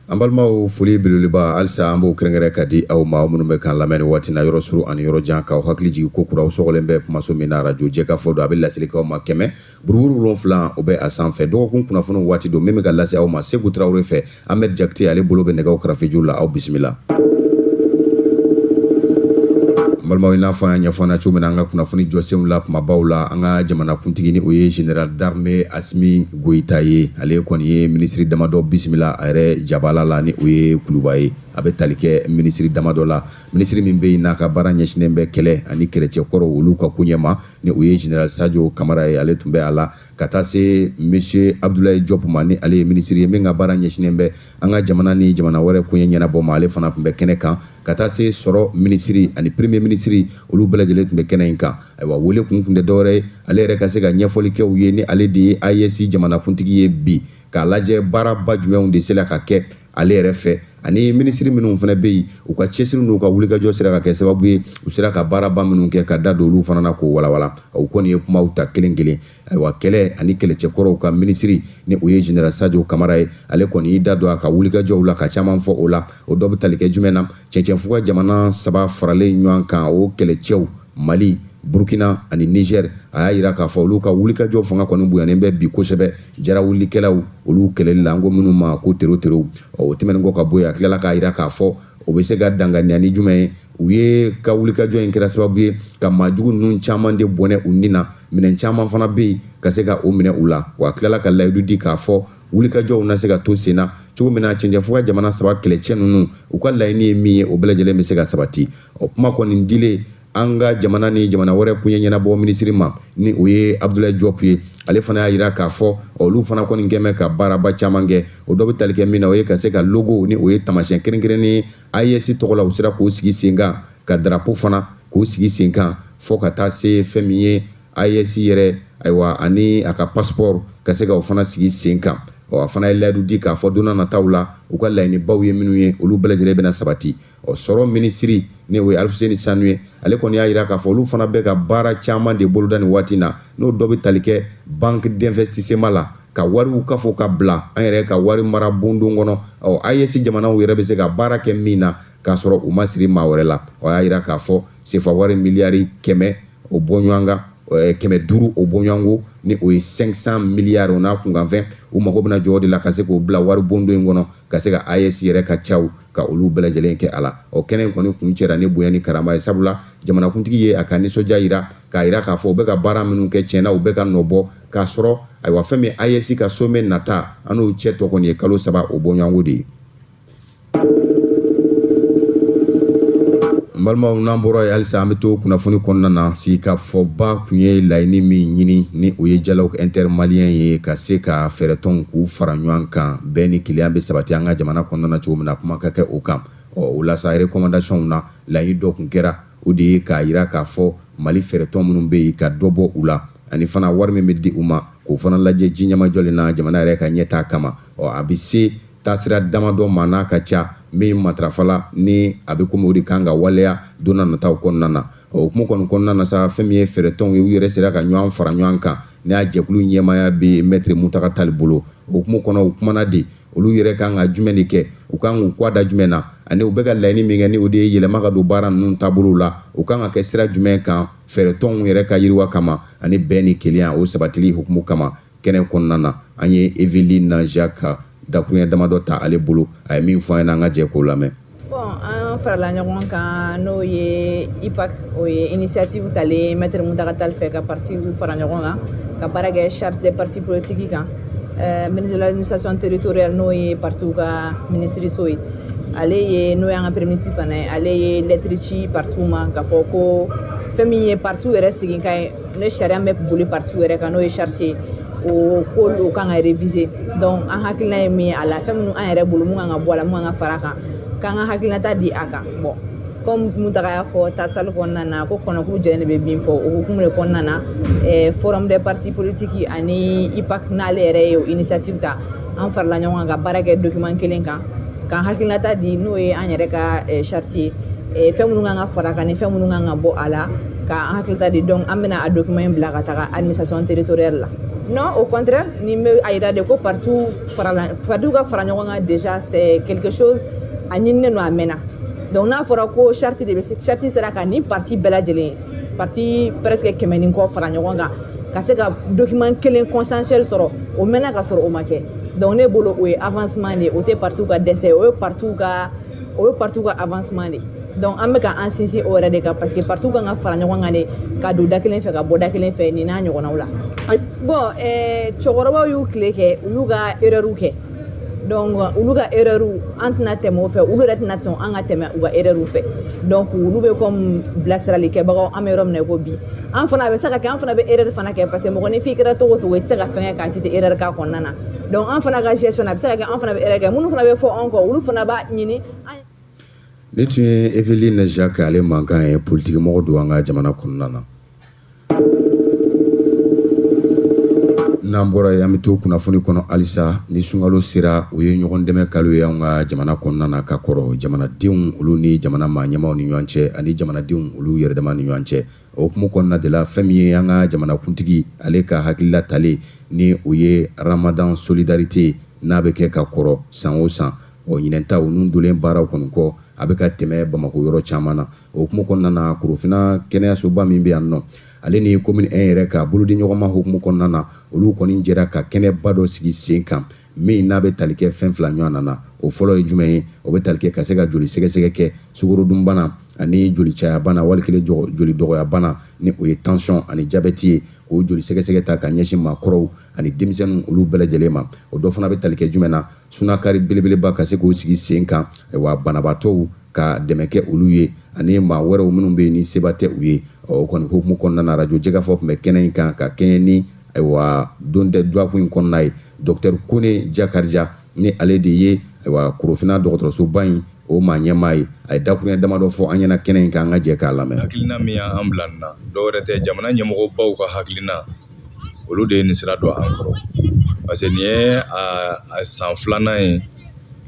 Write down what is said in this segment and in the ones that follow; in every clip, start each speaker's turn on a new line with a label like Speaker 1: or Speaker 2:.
Speaker 1: An balimaw foli belebeleba halisa an b'o kɛrɛnkɛrɛn ka di aw ma aw minnu bɛ k'an lamɛn nin waati na yɔrɔ suru ani yɔrɔ jan k'aw hakili jigin ko kuraw sɔgɔlen bɛ kumaso min na arajo jɛkafɔ don a bɛ laselikaw ma kɛmɛ buruburu wolonwula o bɛ a sanfɛ dɔgɔkun kunnafoniw waati don min bɛ ka lase aw ma Seku Tarawele fɛ Ahmed Jakite ale bolo bɛ nɛgɛw karafeju la aw bisimila. N balimaw i n'a fɔ an y'a ɲɛfɔ cogo min na an ka kunnafoni jɔsenw la kumabaw la an ka jamanakuntigi ni o ye Général d'armée Asimi Goyita ye ale kɔni ye minisiri damadɔ bisimila a yɛrɛ jabala la ni o ye kuluba ye a bɛ tali kɛ minisiri damadɔ la minisiri min bɛ yen n'a ka baara ɲɛsinnen bɛ kɛlɛ ani kɛlɛcɛkɔrɔ olu ka koɲɛ ma ni o ye general sajo kamara ye ale tun bɛ a la ka taa se monsieur abdulayi jɔp ma ni ale ye minisiri ye min ka baara ɲɛsinnen bɛ an ka jamana ni jamana wɛrɛ koɲɛ ɲɛnabɔ ma ale fana tun bɛ kɛnɛ kan ka taa se sɔrɔ minisiri ani premier minisiri olu bɛɛ lajɛlen tun bɛ kɛnɛ in kan ayiwa wele kun tun tɛ dɔwɛrɛ ye ale yɛrɛ ka se ka ɲɛfɔli kɛ u ye ni ale de ye AES jamanakuntigi ye bi k'a lajɛ baaraba jumɛnw de sera ka kɛ ale yɛrɛ fɛ ani minisiri minnu fana bɛ yen u ka cɛsiri n'u ka wulikajɔ sera ka kɛ sababu ye u sera ka baaraba minnu kɛ ka da don olu fana na k'o walawala o kɔni ye kumaw ta kelen kelen ayiwa kɛlɛ ani kɛlɛcɛkɔrɔw ka minisiri ni o ye general sajo kamara ye ale kɔni y'i da don a ka wulikajɔw la ka caman fɔ o la o dɔ bɛ tali kɛ jumɛn na cɛncɛnfuga jamana saba faralen ɲɔgɔn kan o kɛlɛcɛw Mali Burkina ani Niger a y'a jira k'a fɔ olu ka wulikajɔ fanga kɔni bonyanen bɛ bi kosɛbɛ jarawulikɛlaw olu kɛlɛli la an ko minnu ma ko teroterow o tɛmɛnen kɔ ka bɔ yen a tilala k'a jira k'a fɔ o bɛ se ka danganiya ni jumɛn ye u ye ka wulikajɔ in kɛra sababu ye ka maajugu ninnu caman de bɔnɛ u ni na minɛn caman fana bɛ yen ka se ka o minɛ u la wa a tilala ka layidu di k'a fɔ wulikajɔw na se ka to sen na cogo min na cɛncɛnfuga jamana saba kɛlɛcɛ ninnu u ka laɲini ye min ye o bɛɛ lajɛlen bɛ se ka sabati o kuma kɔni dilen an ka jamana ni jamana wɛrɛ koɲɛ ɲɛnabɔ minisiri ma ni o ye abudulayi jɔpu ye ale fana y'a jira k'a fɔ olu fana kɔni kɛn bɛ ka baaraba caman kɛ o dɔ bɛ tali kɛ min na o ye ka se ka logo ni o ye tamasiyɛn kɛrɛnkɛrɛnnen AES tɔgɔ la u sera k'o sigi sen kan ka darapo fana k'o sigi sen kan fɔ ka taa se fɛn min ye AES yɛrɛ ayiwa ani a ka passeport ka se ka o fana sigi sen kan ɔ a fana ye layidu di k'a fɔ don na nataw la u ka laɲinibaw ye minnu ye olu bɛɛ lajɛlen bɛna sabati ɔ sɔrɔ minisiri ni o ye alifuseni sanu ye ale kɔni y'a jira k'a fɔ olu fana bɛ ka baara caman de boloda nin waati na n'o dɔ bɛ tali kɛ banque d'investissement la ka wariw kafo ka bila an yɛrɛ ka wari mara bondon kɔnɔ ɔ AES jamanaw yɛrɛ bɛ se ka baara kɛ min na k'a sɔrɔ u ma siri maa wɛrɛ la o y'a jira k'a fɔ sefa wari miliyari kɛmɛ o bɔɲɔgɔnka eh, kɛmɛ duuru o bɔɲɔgɔnko ni o ye 500 miliyari o n'a kunkanfɛn u mago bɛna jɔ o de la ka se k'o bila wari bondo in kɔnɔ ka se ka AES yɛrɛ ka caw ka olu bɛɛ lajɛlen kɛ a la o kɛnɛ in kɔni kuncɛra ni bonya ni karama ye sabula jamanakuntigi ye a ka nisɔndiya yira k'a yira k'a fɔ u bɛ ka baara minnu kɛ tiɲɛna u bɛ ka nɔ bɔ k'a sɔrɔ ayiwa fɛn min AES ka somɛ nata an n'o cɛ tɔ kɔni ye kalo saba o bɔɲɔgɔnko de ye n balimaw n'an bɔra yen halisa an bɛ to kunnafoni kɔnɔna na sigikafɔba tun ye laɲini min ɲini ni o ye dialogue intermalien ye ka se ka fɛɛrɛtɔnw k'u fara ɲɔgɔn kan bɛn ni kelenya bɛ sabati an ka jamana kɔnɔna na cogo min na kuma ka kɛ o kan ɔ o la sa rekɔmandasiyɔnw na laɲini dɔ tun kɛra o de ye k'a jira k'a fɔ mali fɛɛrɛtɔn minnu bɛ yen ka dɔ bɔ u la ani fana wari min bɛ di u ma k'o fana lajɛ ji ɲɛmajɔlen na jamana yɛrɛ ka ɲɛtaa kama ɔ a bɛ se taasira damadɔ ma n'a ka ca min matarafala ni a bɛ komi o de kan ka waleya don n'a nataw kɔnɔna na o hukumu kɔni kɔnɔna na sa fɛn min ye fɛɛrɛtɔnw ye u yɛrɛ sera ka ɲɔgɔn fara ɲɔgɔn kan ni a jɛkulu ɲɛmaaya bɛ mɛtiri muntaga tali bolo o hukumu kɔnɔ u kumana de olu yɛrɛ kan ka jumɛn de kɛ u kan k'u kɔ da jumɛn na ani u bɛ ka laɲini min kɛ ni o de ye yɛlɛma ka don baara ninnu taabolow la u kan ka kɛ sira jumɛn kan fɛɛrɛtɔnw yɛrɛ ka yiriwa kama ani bɛn ni kelenya o sabatili hukumu kama kɛnɛ kɔnɔna na an ye eveline jacques ka dakuruɲɛ damadɔ ta ale bolo a ye min fɔ an ɲɛna an ka jɛ k'o lamɛn bɔn
Speaker 2: an farala ɲɔgɔn kan n'o ye ipac o ye initiative talen maître mountaga tall fɛ ka parti fara ɲɔgɔn kan ka baara kɛ charte des partis politiques kan euh, ministre de l'administration territoriale n'o ye partiw ka minisiriso ye ale ye n'o y'an ka premier ministre fana ye ale ye lɛtiri ci partiw ma k'a fɔ ko fɛn min ye partiw yɛrɛ sigikan ye ni sariya bɛ boli parti yɛrɛ kan n'o ye charte ye o ko o kan ka revize dɔnku an hakilina ye min ye a la fɛn minnu an yɛrɛ bolo mun kan ka bɔ a la mun kan ka fara a kan k'an ka hakilinata di a kan bɔn kɔmi muntaga y'a fɔ tasali kɔnɔna na ko kɔnɔkulu jɛlen de bɛ bii fɔ o hukumu de kɔnɔna na eh, forum des partis politiques ani ipac n'ale yɛrɛ ye o initiative ta an farala ɲɔgɔn kan ka baara kɛ document kelen kan k'an hakilinata di n'o ye an yɛrɛ ka eh, charte ye eh, fɛn minnu kan ka fara kan ni fɛn minnu kan ka bɔ a la ka an hakilinata di donc an bɛna a document in bila ka taga administration territoriale la non au contraire nin bɛ a yira de ko partiw farala partiw ka fara ɲɔgɔn kan déjà c'est quelque chose a ɲininen don a mɛnna donc n'a fɔra ko charte de bɛ charte sera ka nin parti bɛɛ lajɛlen parti presque kɛmɛ ni kɔ fara ɲɔgɔn kan ka se ka document kelen consensuel sɔrɔ o mɛnna ka sɔrɔ o ma kɛ donc ne bolo o ye avancement de ye o tɛ partiw ka dɛsɛ o ye partiw ka o ye parti ka avancement de donc an bɛ ka an sinsin o yɛrɛ de kan parce que parti kan ka fara ɲɔgɔn kan de ka don da kelen fɛ ka bɔ da kelen fɛ nin n'a ɲɔgɔnnaw la bon eh, cɛkɔrɔbaw y'u tile kɛ u y'u ka erreur kɛ donc olu ka erreur an tɛna tɛmɛ o fɛ olu yɛrɛ tɛna sɔn an ka tɛmɛ u ka erreur fɛ donc olu bɛ comme bilasirali kɛbagaw an bɛ yɔrɔ min na i ko bi an fana a bɛ se ka kɛ an fana bɛ erreur fana kɛ parce que mɔgɔ ni f'i kɛra cogo o cogo i tɛ se ka fɛn kɛ k'a f'i tɛ erreur k'a kɔnɔna na donc an fana ka gestion a bɛ se ka kɛ an fana bɛ
Speaker 1: erreur kɛ minnu fana bɛ fɔ anw kɔ olu fana b'a ɲini an nin tun ye eveline jacques ale mankan ye politikimɔgɔ don an ka jamana kɔnɔna na n'an bɔra yen an bɛ to kunnafoni kɔnɔ halisa ni sunkalo sera o ye ɲɔgɔn dɛmɛ kalo ye an ka jamana kɔnɔna na ka kɔrɔ jamanadenw olu ni jamana maa ɲɛmaaw ni ɲɔgɔn cɛ ani jamanadenw olu yɛrɛdama ni ɲɔgɔn cɛ o hukumu kɔnɔna de la fɛn min ye an ka jamanakuntigi ale ka hakilila talen ni o ye ramadan solidarité n'a bɛ kɛ ka kɔrɔ san o san ɔ ɲinɛn ta o nun dolen baaraw kɔni kɔ a bɛ ka tɛmɛ bamako yɔrɔ caman na o hukumu kɔnɔna na korofina kɛnɛyasoba min bɛ yan nɔ ale ni komini 1 yɛrɛ ka bolodiɲɔgɔnma hukumu kɔnɔna na olu kɔni jɛra ka kɛnɛba dɔ sigi sen kan min n'a bɛ tali kɛ fɛn fila ɲɔgɔnna na o fɔlɔ ye jumɛn ye o bɛ tali kɛ ka se ka joli sɛgɛsɛgɛ kɛ sukorodunbana ani joli cayabana wali kelen joli dɔgɔyabana ni o ye tansiyɔn ani jabɛti ye k'o joli sɛgɛsɛgɛ ta ka ɲɛsin maakɔrɔw ani denmisɛnnin olu bɛɛ lajɛlen ma o dɔ fana bɛ tali kɛ jumɛn na sunakari belebeleba ka se k'o sigi sen kan wa banabaatɔw ka dɛmɛ kɛ olu ye ani maa wɛrɛw minnu bɛ yen ni seba tɛ u ye o kɔni hukumu kɔnɔna na arajo jɛkafɔ tun bɛ kɛnɛ in kan ka kɛɲɛ ni ayiwa don tɛ duwakun in kɔnɔna ye dɔktɛri kone jakarija ni ale de ye ayiwa korofina dɔgɔtɔrɔsoba in o maa ɲɛmaa ye a ye dakuruɲɛ damadɔ fɔ an ɲɛna kɛnɛ in kan an ka jɛ k'a lamɛn hakilina min y'an bila
Speaker 3: nin na dɔwɛrɛ tɛ jamana ɲɛmɔgɔbaw ka hakilina olu de ye nin sira don an kɔrɔ parce que nin ye a san filanan ye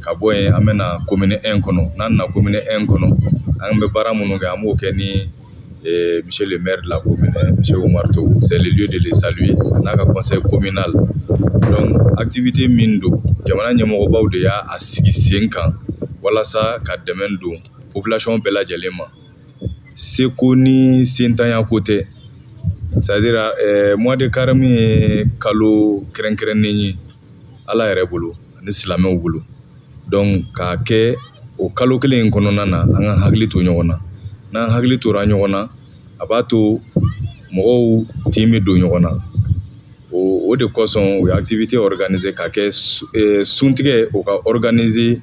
Speaker 3: ka bɔ yen an bɛ na komini ɛn kɔnɔ n'an nana komini ɛn kɔnɔ an bɛ baara minnu kɛ an b'o kɛ ni eh, monsieur le maire de la commune monsieur Oumar Togo c'est le lieu de le saluer a n'a ka conseil communal donc activité min don jamana ɲɛmɔgɔbaw de y'a a sigi sen kan walasa ka dɛmɛ don population bɛɛ lajɛlen ma se ko ni sentanya ko tɛ c'est-à-dire eh, mois de carême ye kalo kɛrɛnkɛrɛnnen ye ala yɛrɛ bolo ani silamɛw bolo donc k'a kɛ o kalo kelen in kɔnɔna na an ka hakili to ɲɔgɔn na n'an hakili tora ɲɔgɔn na a b'a to mɔgɔw tin bɛ don ɲɔgɔn na o o de kosɔn u ye activité organiser ka kɛ eh, suntigɛ u k'a organiser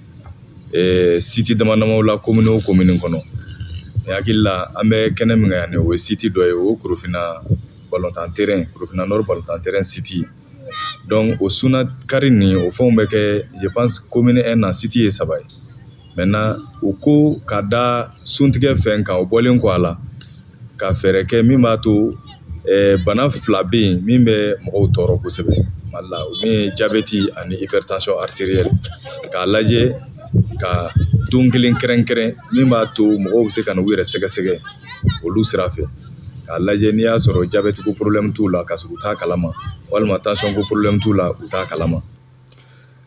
Speaker 3: eh, siti dama damaw la komini o komini kɔnɔ ne hakili la an bɛ kɛnɛ min kan yan o ye siti dɔ ye o ye korofina balontan terɛn korofina nɔri balontan terɛn siti donc o sunakari nin o fɛnw bɛ kɛ je pense commune 1 na site ye saba ye maintenant u ko ka da suntigɛ fɛn kan o bɔlen kɔ a la ka fɛɛrɛ kɛ min b'a to eh, bana fila bɛ yen min bɛ mɔgɔw tɔɔrɔ kosɛbɛ mali la o min ye jabɛti ani hypertension artérielle k'a lajɛ ka don kelen kɛrɛnkɛrɛn min b'a to mɔgɔw bɛ se ka na u yɛrɛ sɛgɛsɛgɛ olu sira fɛ k'a lajɛ n'i y'a sɔrɔ jabɛti ko porobilɛmu t'u la ka sɔrɔ u t'a kalama walima tansɔn ko porobilɛmu t'u la u t'a kalama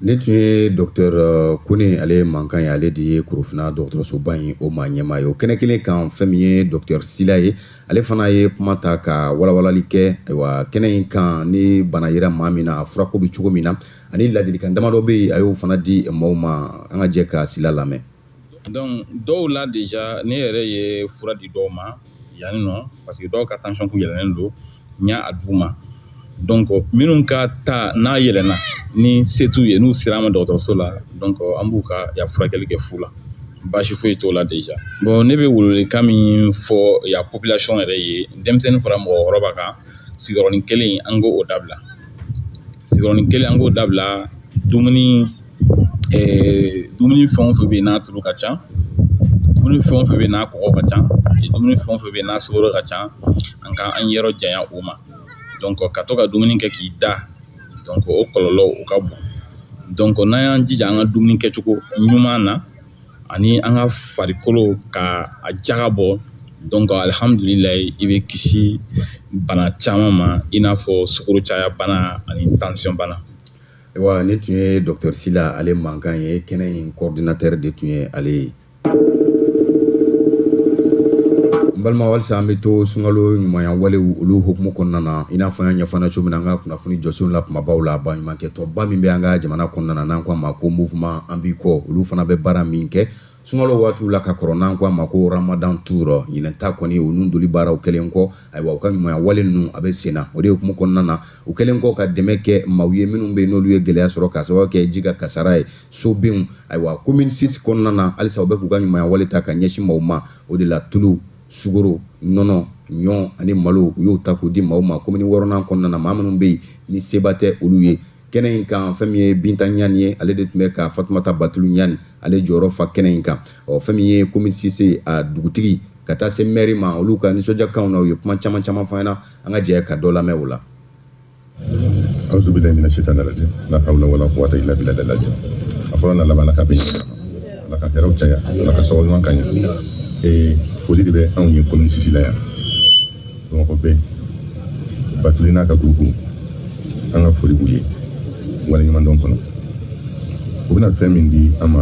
Speaker 1: nin tun ye dɔktɛr euh, kone ale mankan ye ale de ye korofina dɔgɔtɔrɔsoba in o maa ɲɛmaa ye o kɛnɛ kelen kan fɛn min ye dɔktɛr sila ye ale fana ye kuma ta ka walawalali kɛ ayiwa kɛnɛ in kan ni bana yera maa min na a furako bɛ cogo min na ani ladilikan damadɔ bɛ yen a y'o fana di maaw ma an ka jɛ ka sila lamɛn
Speaker 4: dɔw la deja ne yɛrɛ ye fura di dɔw ma yanni nɔ paseke dɔw ka tansɔn kun yɛlɛnnen don n y'a d'u ma donc minnu ka ta n'a yɛlɛnna ni se t'u ye n'u sera an ma dɔgɔtɔrɔso la donc an b'u ka ya furakɛli kɛ fu la baasi foyi t'o la deja bon ne bɛ welewelekan min fɔ ya population yɛrɛ ye denmisɛnnin fara mɔgɔkɔrɔba kan sigiyɔrɔnin kelen an k'o dabila sigiyɔrɔnin kelen an k'o dabila dumuni dumuni fɛn o fɛn bɛ yen n'a tulu ka ca dumuni fɛn o fɛn bɛ yen n'a kɔgɔ ka ca dumuni fɛn o fɛn bɛ yen n'a sukoro ka ca an ka an yɔrɔ janya o ma donc ka to ka dumuni kɛ k'i da donc o kɔlɔlɔ o ka bon donc n'an y'an jija an ka dumuni kɛcogo ɲuman na ani an ka farikolo ka a jaga bɔ donc alihamudulilayi i bɛ kisi bana caman ma i n'a fɔ sukoro caya bana ani tansɔn bana Wa
Speaker 1: nin tun ye dɔkutɔri sila ale mankan ye kɛnɛ in coordinateur de tun ye ale ye n balima walisa an bɛ to sunkalo ɲumanya walew olu hukumu kɔnɔna na i n'a fɔ an y'a ɲɛfɔ cogo min na an ka kunnafoni jɔsenw la kumabaw la baɲumankɛtɔnba min bɛ an ka jamana kɔnɔna na n'an ko a ma ko mouvement an b'i kɔ olu fana bɛ baara min kɛ sunkalo waatiw la ka kɔrɔ n'an ko a ma ko ramadan tour ɲinɛ ta kɔni u nun doli baaraw kɛlen kɔ ayiwa u ka ɲumanya wale ninnu a bɛ senna o de hukumu kɔnɔna na u kɛlen kɔ ka dɛmɛ kɛ maaw ye minnu bɛ yen n'olu ye gɛlɛya sɔrɔ k'a sababu kɛ ji ka kasara ye sobinw ayiwa commune six kɔnɔna na halisa u bɛ k'u ka ɲumanya wale ta ka ɲɛsin maaw ma o de la tulu sugoro nɔnɔ ɲɔ ani malo u y'o ta k'o di maaw ma komini wɔɔrɔnan kɔnɔna na maa minnu bɛ yen ni seba tɛ olu ye kɛnɛ in kan fɛn min ye binta ɲani ye ale de tun bɛ ka fatumata batulu ɲani ale jɔyɔrɔ fa kɛnɛ in kan ɔ fɛn min ye komini sisi a dugutigi ka taa se mɛri ma olu ka nisɔndiyakanw na u ye kuma caman caman fɔ an ɲɛna an ka jɛ ka dɔ lamɛn o la
Speaker 5: auzubilayi mina sitani rajim la hawla wala quwata illa billahi al-azim a fɔlɔ n'a laban ka bɛn ala ka hɛrɛw caya ala ka sababu ɲuman k'an ye ee foli de bɛ anw ye komini sisi la yan bamakɔ bɛɛ batuli n'a ka gurupu an ka foli b'u ye waleɲumandɔn kɔnɔ u bɛna fɛn min di an ma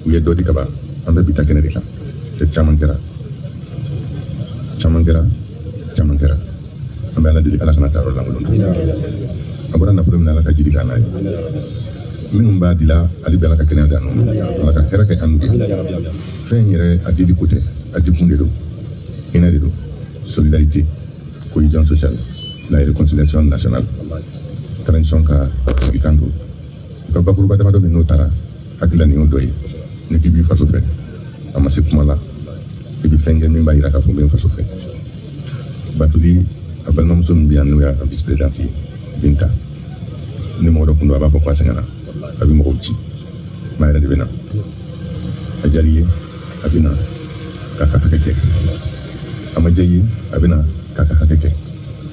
Speaker 5: u ye dɔ di kaban an bɛ bi ta kɛnɛ de kan cɛ caman kɛra caman kɛra caman kɛra an bɛ ala deli ala kan'a ta yɔrɔ lankolon to a bɔra nafolo min na ala ka jiri k'a n'a ye minnu b'a dila hali bi ala ka kɛnɛya di an ma ala ka hɛrɛ kɛ an n'u ye fɛn in yɛrɛ a dili ko tɛ a dikun de don hinɛ de don solidarité cohésion sociale la réconciliation nationale transition ka sigikan don u ka bakuruba damadɔ min n'o taara hakilila nin y'o dɔ ye n'i k'i b'i faso fɛ a ma se kuma la i bɛ fɛn kɛ min b'a yira k'a fɔ n bɛ n faso fɛ batuli a balimamuso min bɛ yan n'o y'a ka vice présidente ye binta ni mɔgɔ dɔ kun don a b'a fɔ ko a sɛgɛnna a bɛ mɔgɔw ci mais a yɛrɛ de bɛ na a diyara i ye a bɛ na k'a ka hakɛ kɛ a ma diya i ye a bɛ na k'a ka hakɛ kɛ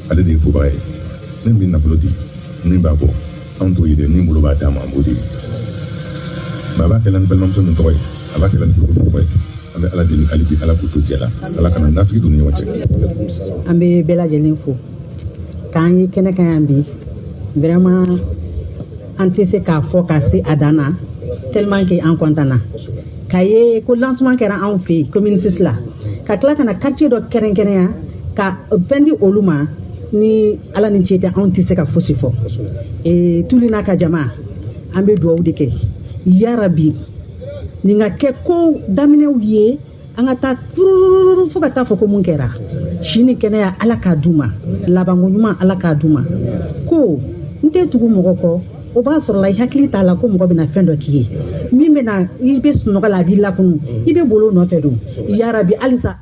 Speaker 5: ale de ye fɔbaga ye min bɛ nafolo di min b'a bɔ anw t'o ye dɛ min bolo b'a d'a ma an b'o de ye nka a b'a kɛla ni balimamuso min tɔgɔ ye a b'a kɛla ni furukuru tɔgɔ ye an bɛ ala deli hali bi ala k'u to jɛ la ala kana nafigi don u ni ɲɔgɔn cɛ an bɛ bɛɛ lajɛlen
Speaker 6: fo k'an ye kɛnɛ kan yan bi vraiment an tɛ se k'a fɔ ka se a dan na tellement que an kɔntan na k'a ye ko lancement kɛra anw fɛ yen commune 6 la ka tila ka na quartier dɔ kɛrɛnkɛrɛnya ka fɛn di olu ma ni ala ni ce tɛ anw tɛ se ka fosi fɔ ee tuli n'a ka jama an bɛ dugawu de kɛ yarabi nin ka kɛ ko daminɛw ye an ka taa kurun fo ka taa fɔ ko mun kɛra si ni kɛnɛya ala k'a d'u ma labanko ɲuman ala k'a d'u ma ko n tɛ tugu mɔgɔ kɔ o b'a sɔrɔla i hakili t'a la ko mɔgɔ bɛna fɛn dɔ k'i ye min bɛna i bɛ sunɔgɔ la a b'i lakunu i bɛ bolo nɔfɛ don yarabi halisa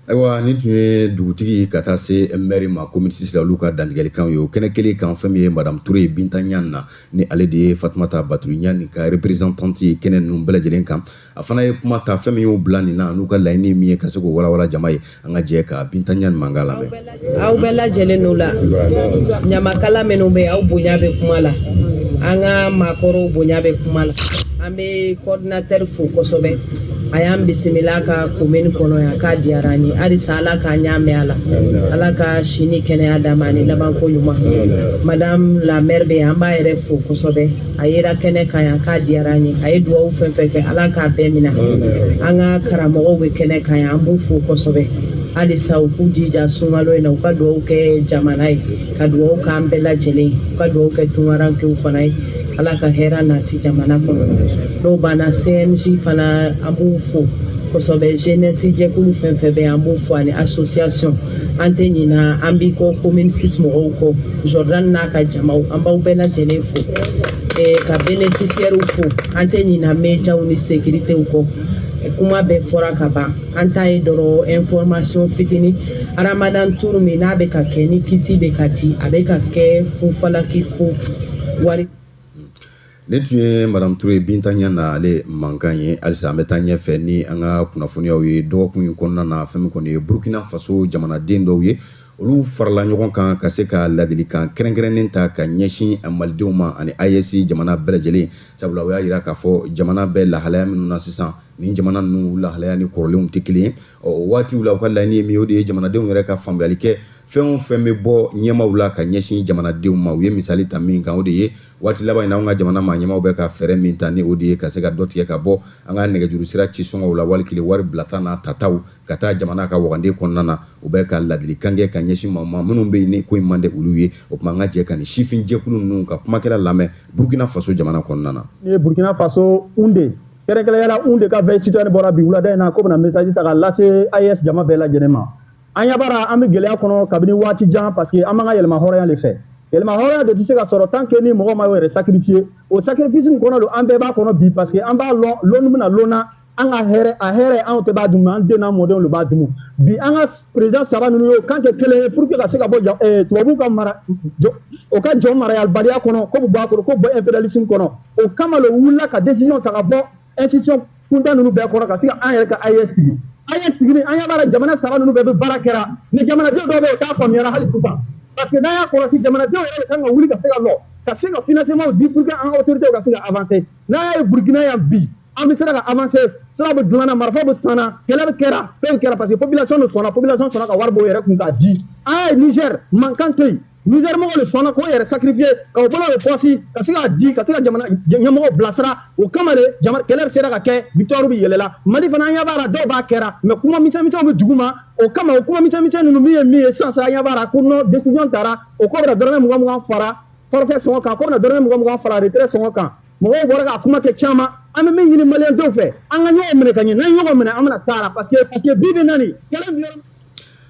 Speaker 1: ayiwa nin tun ye dugutigi ka taa se mɛri ma komini sisi la olu ka dantigɛlikanw ye o kɛnɛ kelen kan fɛn min ye madame ture binta ɲan na ni ale de ye fatumata batuli ɲani ka représentante ye kɛnɛ ninnu bɛɛ lajɛlen kan a fana ye kuma ta fɛn min y'u bila nin na n'u ka laɲini min ye ka se k'o walawala jama ye an ka jɛ ka binta ɲani mankan lamɛn aw bɛɛ
Speaker 7: lajɛlen ni wula ɲamakala minnu bɛ yen aw bonya bɛ kuma la an ka maakɔrɔw bonya bɛ kuma la an bɛ kɔridinatɛri fo kosɛbɛ a y'an bisimila a ka komini kɔnɔ yan k'a diyara an ye halisa ala k'a ɲa mɛn a la ala ka si ni kɛnɛya d'a ma ani labanko ɲuman madame la maire bɛ yan an b'a yɛrɛ fo kosɛbɛ a yera kɛnɛ kan yan k'a diyara an ye a ye dugawu fɛn fɛn kɛ ala k'a bɛɛ mina an ka karamɔgɔw bɛ kɛnɛ kan yan an b'u fo kosɛbɛ halisa u k'u jija sunkalo in na u ka dugawu kɛ jamana ye ka dugawu k'an bɛɛ lajɛlen ye u ka dugawu kɛ tunkarankew fana ye ala ka hɛrɛ nati jamana kɔnɔ n'o banna cnj fana an b'u fo kosɛbɛ jenɛsi jɛkulu fɛn fɛn bɛ yan an b'u fo ani asosiyasɔn an tɛ ɲina an b'i kɔ commune six mɔgɔw kɔ Jordan n'a ka jamaw an b'aw bɛɛ lajɛlen fo ka bɛnɛfisiyɛriw fo an tɛ ɲina médiaw ni sécuritéw kɔ kuma bɛɛ fɔra ka ban an ta ye dɔrɔn information fitinin ramadan tour min n'a bɛ ka kɛ ni kiti bɛ ka di a bɛ ka kɛ fofalaki fo wari nin
Speaker 1: tun ye madame ture binta Niane ale mankan ye halisa an bɛ taa ɲɛfɛ ni an ka kunnafoniyaw ye dɔgɔkun in kɔnɔna na fɛn min kɔni ye burkina faso jamanaden dɔw ye olu farala ɲɔgɔn kan ka se ka ladilikan kɛrɛnkɛrɛnnen ta ka ɲɛsin malidenw ma ani AES jamana bɛɛ lajɛlen sabula u y'a jira k'a fɔ jamana bɛɛ lahalaya minnu na sisan nin jamana ninnu lahalaya ni kɔrɔlenw tɛ kelen ye ɔ o waatiw la u ka laɲini ye min ye o de ye jamanadenw yɛrɛ ka faamuyali kɛ fɛn o fɛn bɛ bɔ ɲɛmaaw la ka ɲɛsin jamanadenw ma u ye misali ta min kan o de ye waati laban in na an ka jamana maa ɲɛmaaw bɛ ka fɛɛrɛ min ta ni o de ye ka se ka dɔ tigɛ ka bɔ an ka nɛgɛjuru sira ci sɔngɔw la wali kile wari bilata n'a tataw ka taa jamana ka waganden kɔnɔna na u bɛ ka ladilikan kɛ ka ɲɛsin maaw ma minnu bɛ yen ni ko in man di olu ye o tuma an ka jɛ ka nin sifin jɛkulu ninnu ka kumakɛla lamɛn burkina faso jamana kɔnɔna na. nin ye burkina
Speaker 8: faso Houndé kɛrɛnkɛrɛnya la Houndé ka veille citoyenne bɔra bi wulada in na k'o bɛna message ta ka lase AES jama bɛɛ lajɛlen ma. an ɲa b'a ra an bɛ gɛlɛya kɔnɔ kabini waati jan parce que an b'an ka yɛrɛmahɔrɔnya de fɛ yɛrɛmahɔrɔnya de tɛ se ka sɔrɔ tant que ni mɔgɔ ma i yɛrɛ sacrifier o sacrifice in kɔnɔ don an bɛɛ b'a kɔnɔ bi parce que an b'a lɔn lɔnni bɛna lɔnna an ka hɛrɛ a hɛrɛ anw tɛ b'a dumu an den n'an mɔdenw de b'a dumu bi an ka président saba ninnu y'o kan kɛ kelen ye pour que ka se ka bɔ jɔ eh, tubabuw ka mara jɔ o ka jɔn marayalibaliya kɔnɔ k'o bɛ bɔ a kɔnɔ k'o bɔ impérialisme kɔnɔ o kama le wulila ka décision ta ka bɔ institution kuntan ninnu bɛɛ kɔrɔ ka se ka an yɛrɛ ka AES sigi AES sigili an ɲa b'a ra jamana saba ninnu bɛɛ bɛ baara kɛra mais jamanadenw dɔw bɛ yen o t'a faamuyara hali sisan parce que n'an y'a kɔlɔsi jamanadenw yɛrɛ de kan ka wuli ka se ka lɔ ka se ka financement di pour que an ka autorités ka se ka avancer n'an y'a ye Burkina yan bi an bɛ sera ka avancer sira bɛ dilanna marifa bɛ sanna kɛlɛ bɛ kɛra fɛn kɛra parce que population de sɔnna population sɔnna ka wari bɔ u yɛrɛ kun k'a di an y'a ye Niger mankan tɛ yen Niger mɔgɔw de sɔnna k'o yɛrɛ sacrifier ka o bolo don pɔsi ka se k'a di ka se ka jamana ɲɛmɔgɔw bilasira o kama de jama kɛlɛ sera ka kɛ victoire bi yɛlɛla mali fana an ɲɛ b'a la dɔw b'a kɛra mais kuma misɛnmisɛnw bɛ dugu ma o kama o kuma misɛnmisɛn ninnu min ye min ye sisan sisan an ɲɛ b'a la ko non décision tara o k'o bɛna dɔrɔmɛ mugan mugan fara forfait sɔngɔ kan k'o bɛna dɔrɔmɛ mugan mugan fara retrait sɔngɔ kan mɔgɔw bɔra k'a kuma kɛ caman an bɛ min ɲini maliyɛn dɔw fɛ an ka ɲɔgɔn minɛ ka ɲɛ n'an ye ɲɔgɔn minɛ an bɛna s'a la parce que parce que bi bi na nin kɛlɛ bi yɔrɔ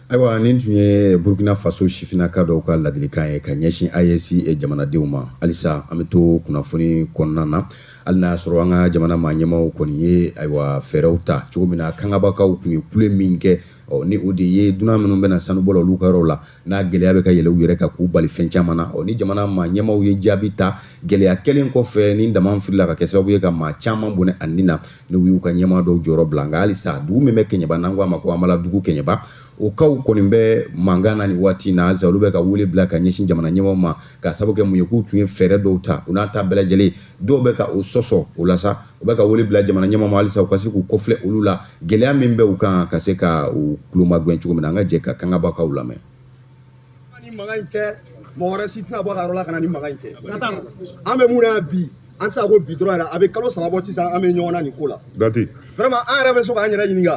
Speaker 8: ayiwa
Speaker 1: nin tun ye burkina faso sifinaka dɔw ka ladilikan ye ka ɲɛsin AES jamanadenw ma halisa an bɛ to kunnafoni kɔnɔna na hali n'a y'a sɔrɔ an ka jamana maa ɲɛmaaw kɔni ye ayiwa fɛɛrɛw ta cogo min na kangabakaw tun ye kule min kɛ ɔ ni o de ye dunan minnu bɛ na sanubɔ la olu ka yɔrɔw la n'a gɛlɛya bɛ ka yɛlɛ u yɛrɛ kan k'u bali fɛn caman na ɔ ni jamana maa ɲɛmaaw ye jaabi ta gɛlɛya kɛlen kɔfɛ ni daman firila ka kɛ sababu ye ka maa caman bɔnɛ a ni na n'u y'u ka ɲɛmaa dɔw jɔyɔrɔ bila nka halisa dugu min bɛ kɛɲɛba n'an ko a ma ko habaladugu kɛɲɛba o kaw kɔni bɛ mankan na nin waati in na halisa olu bɛ ka wele bila ka ɲɛsin jamana ɲɛmaaw ma ka sabu kɛ mun ye k'u tun ye fɛɛrɛ dɔw ta o n'a ta bɛɛ lajɛlen dɔw bɛ ka o sɔsɔ o la sa u bɛ ka wele bila jamana ɲɛmaaw ma halisa u ka se k'u kɔfilɛ olu la gɛlɛya min bɛ u kan ka se ka u kulomagɛn cogo min na an ka jɛ ka kangabakaw lamɛn
Speaker 9: ni mankan in kɛ mɔgɔ wɛrɛ si tɛna bɔ ka yɔrɔ la ka na nin mankan in kɛ an bɛ mun na bi an tɛ se ka ko bi dɔrɔn yɛrɛ a bɛ kalo saba bɔ sisan an bɛ ɲɔgɔn na nin ko la dati vraiment an yɛrɛ bɛ so k'an yɛrɛ ɲininka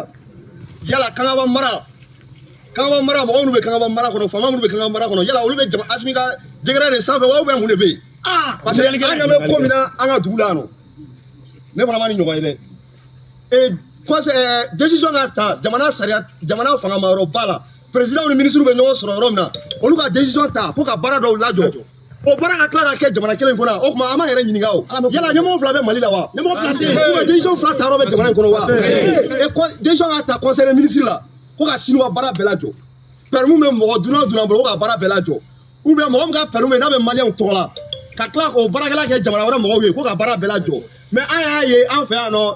Speaker 9: yala kangaba mara kangaba mara mɔgɔ minnu bɛ kangaba mara kɔnɔ faama minnu bɛ kangaba mara kɔnɔ yala olu bɛ jama asimi ka décret de sanfɛ wa ou bien mun de bɛ yen parce que an ɲɛ bɛ ko min na an ka dugu la yan nɔ ne fana ma nin ɲɔgɔn ye dɛ ee kɔsɛ ɛɛ decision ka ta jamana sariya jamana fangamayɔrɔba la perezidɛnw ni minisiriw bɛ ɲɔgɔn sɔrɔ yɔrɔ min na olu ka desizɔn ta ko ka baara dɔw lajɔ o baara ka tila ka kɛ jamana kelen kɔnɔ o tuma an b'an yɛrɛ ɲininka o yala ɲɛmɔgɔ fila bɛ mali la wa ɲɛmɔgɔ fila tɛ yen ou bien desizɔn fila ta yɔrɔ bɛ jamana in kɔnɔ wa desizɔn ka ta conseil des ministres la ko ka siniwa baara bɛɛ lajɔ permis bɛ mɔgɔ dunan o dunan bolo ko ka baara bɛɛ lajɔ ou bien mɔgɔ min ka permis bɛ n'a bɛ maliyɛnw tɔgɔ la ka tila k'o baarakɛla kɛ jamana wɛrɛ mɔgɔw ye ko ka baara bɛɛ lajɔ mɛ an y'a ye an fɛ yan nɔ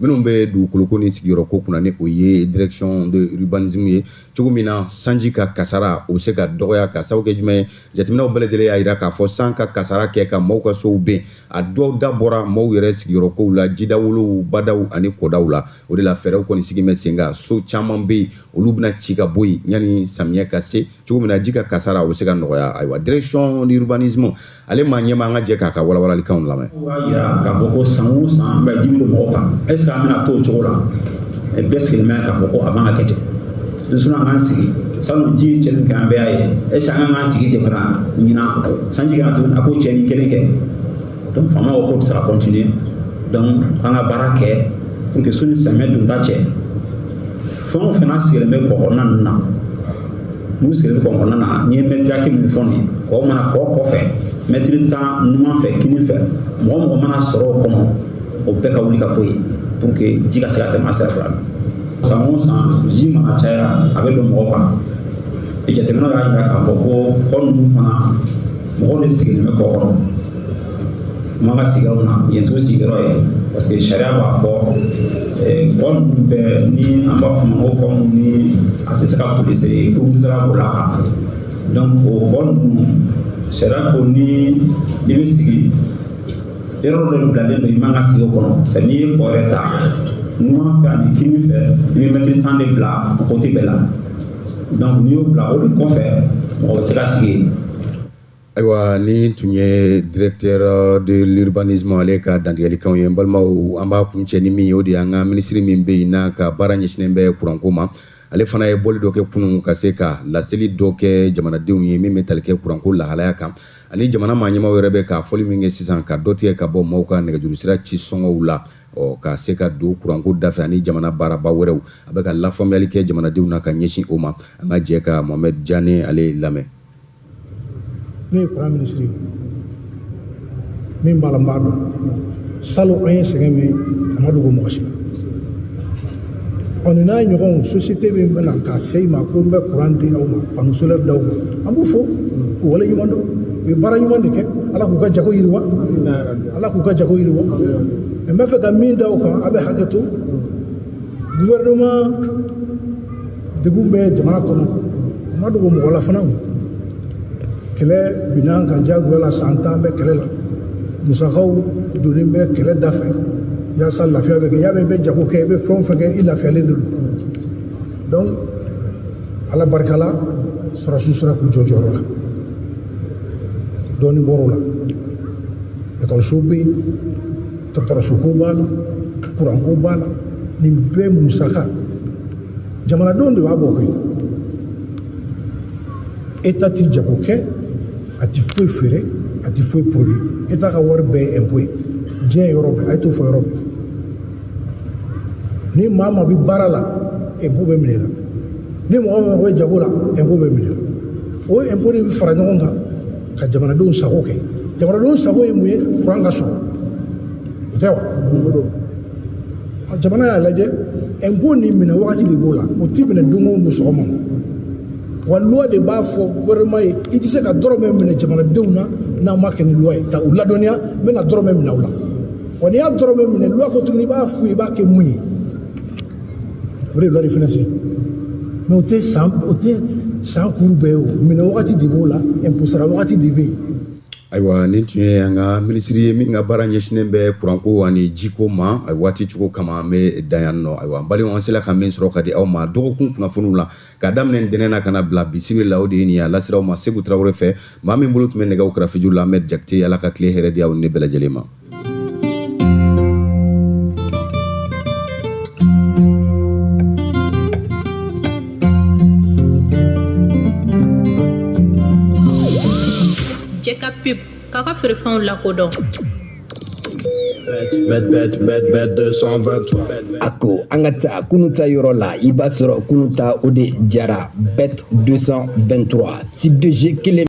Speaker 1: minnu bɛ dugukoloko ni sigiyɔrɔko kunna ni o ye direction de urbanisme ye cogo min na sanji ka kasara o bɛ se ka dɔgɔya ka sababu kɛ jumɛn ye jateminɛw bɛɛ lajɛlen y'a jira k'a fɔ san ka kasara kɛ ka maaw ka sow ben a dɔw da bɔra maaw yɛrɛ sigiyɔrɔkow la jidawolow badaw ani kɔdaw la o de la fɛɛrɛw kɔni sigilen bɛ sen kan so caman bɛ yen olu bɛna ci ka bɔ yen yanni samiyɛ ka se cogo min na ji ka kasara o bɛ se ka nɔgɔya ayiwa direction de urbanisme ale maa ɲɛmaa an ka jɛ k'a ka walawalalikanw lamɛn. o b'a yira k'a fɔ
Speaker 10: ko san o san an bɛ ji bɛ don mɔgɔ kan est ce que an bɛna to o cogo la bɛɛ sigilen bɛ k'a fɔ ko a man ka kɛ ten n sɔnna k'an sigi salon ji cɛnni kɛ an bɛɛ y'a ye est ce que an kan k'an sigi ten fana ɲinan sanji ka na tuguni a k'o cɛnni kelen kɛ donc faama ko k'o tɛ se ka continuer donc an ka baara kɛ pour que sanni samiyɛ donda cɛ. fɛn o fɛn sigilen bɛ kɔ kɔnɔna ninnu na n'u sigilen bɛ kɔ kɔnɔna na n'i ye mɛtiri hakɛ min fɔ nin kɔ mana kɔ kɔfɛ mɛtiri tan numan fɛ kini fɛ mɔgɔ o mɔgɔ mana sɔrɔ o kɔnɔ o bɛɛ ka wuli ka bɔ yen pour que ji ka se ka tɛmɛ a sira fila san o san ji mana caya a bɛ don mɔgɔ kan jateminɛw y'a jira k'a fɔ ko kɔ ninnu fana mɔgɔw de sigilen bɛ kɔ kɔnɔ u man ka sigi o na yen t'u sigiyɔrɔ ye parce que sariya b'a fɔ kɔ ninnu bɛɛ ni an b'a fɔ ma ko kɔ minnu ni a tɛ se ka boli sɛ kurun tɛ se ka boli a kan donc o kɔ ninnu sariya ko ni i bɛ sigi yɔrɔ dɔ bilalen don i man ka sigi o kɔnɔ sɛ n'i ye kɔ yɛrɛ ta numan fɛ ani kini fɛ i bɛ mɛtiri tan de bila o kote bɛɛ la donc n'i y'o bila o de kɔfɛ mɔgɔ bɛ se ka sigi yen
Speaker 1: ayiwa nin tun ye directeur de l'urbanisme ale ka dantigɛlikanw ye n balimaw an b'a kuncɛ ni min ye o de y'an ka minisiri min bɛ yen n'a ka baara ɲɛsinnen bɛ kuranko ma ale fana ye bɔli dɔ kɛ kunun ka se ka laseli dɔ kɛ jamanadenw ye min bɛ tali kɛ kuranko lahalaya kan ani jamana maa ɲɛmaaw yɛrɛ bɛ ka fɔli min kɛ sisan ka dɔ tigɛ ka bɔ maaw ka nɛgɛjurusira ci sɔngɔw la ka se ka don kuranko dafɛ ani jamana baaraba wɛrɛw a bɛ ka lafaamuyali kɛ jamanadenw na ka ɲɛsin o ma an ka jɛ ka mohamɛd jane ale lamɛn
Speaker 11: ne ye kuran minisiri ye min b'a la n b'a dɔn salon an ye sɛgɛn min a ma dogo mɔgɔ si la ɔ nin n'a ɲɔgɔnw sosiyete min bɛ na ka se i ma ko n bɛ kuran di aw ma panneau solaire d'aw ma an b'u fo k'u waleɲumandɔn u ye baara ɲuman de kɛ ala k'u ka jago yiriwa ala k'u ka jago yiriwa n bɛ fɛ ka min da o kan a bɛ hakɛ to gouvernement degun bɛ jamana kɔnɔ a ma dogo mɔgɔ la fana kɛlɛ binna an kan diyagoya la san tan bɛ kɛlɛ la musakaw donnen bɛ kɛlɛ dafɛ yaasa lafiya bɛ kɛ y'a mɛn i bɛ jago kɛ i bɛ fɛn o fɛn kɛ i lafiyalen de don donc ala barika la sɔrɔdasiw sera k'u jɔ jɔyɔrɔ la dɔɔnin bɔr'o la ekɔlisow bɛ yen dɔgɔtɔrɔsoko b'a la kuranko b'a la nin bɛɛ musaka jamanadenw de b'a bɔ koyi état ti jago kɛ a ti foyi feere a ti foyi produit état ka wari bɛɛ ye impôt ye diɲɛ yɔrɔ bɛɛ a ye t'o fɔ yɔrɔ bɛɛ ni maa maa bɛ baara la impôt bɛ minɛ la ni mɔgɔ mɔgɔ bɛ jago la impôt bɛ minɛ o impôt de bɛ fara ɲɔgɔn kan ka jamanadenw sago kɛ jamanadenw sago ye mun ye kuran ka sɔrɔ o tɛ wa o don jamana y'a lajɛ impôt nin minɛ wagati de b'o la o ti minɛ don o don sɔgɔma wa loi de b'a fɔ gouvernement ye i tɛ se ka dɔrɔmɛ minɛ jamanadenw na n'a ma kɛ ni loi ye ka u ladɔnniya n bɛna dɔrɔmɛ minɛ u la wa n'i y'a dɔrɔmɛ minɛ loi ko tuguni i b'a f'u ye i b'a kɛ mun ye o de ye loi de finance mais o tɛ san o tɛ san kuru bɛɛ ye o minɛ wagati de b'o la sara wagati de bɛ yen ayiwa nin
Speaker 1: tun ye an ka minisiri ye min ka baara ɲɛsinnen bɛ kuranko ani jiko ma a waati cogo kama an bɛ dan yan nɔ ayiwa balimaw an sera ka min sɔrɔ ka di aw ma dɔgɔkun kunnafoniw la ka daminɛ ntɛnɛn na ka na bila bi sibiri la o de ye nin ye a lasera aw ma segu tarawele fɛ maa min bolo tun bɛ nɛgɛw karafeju la ahmed jakite ala ka tile hɛrɛ di aw ni ne bɛɛ lajɛlen ma
Speaker 12: Jɛka pub k'a ka feerefɛnw
Speaker 13: lakodɔn a ko an ka taa kunu ta yɔrɔ la i b'a sɔrɔ kunu ta o de jara bet 223 ti doze kelen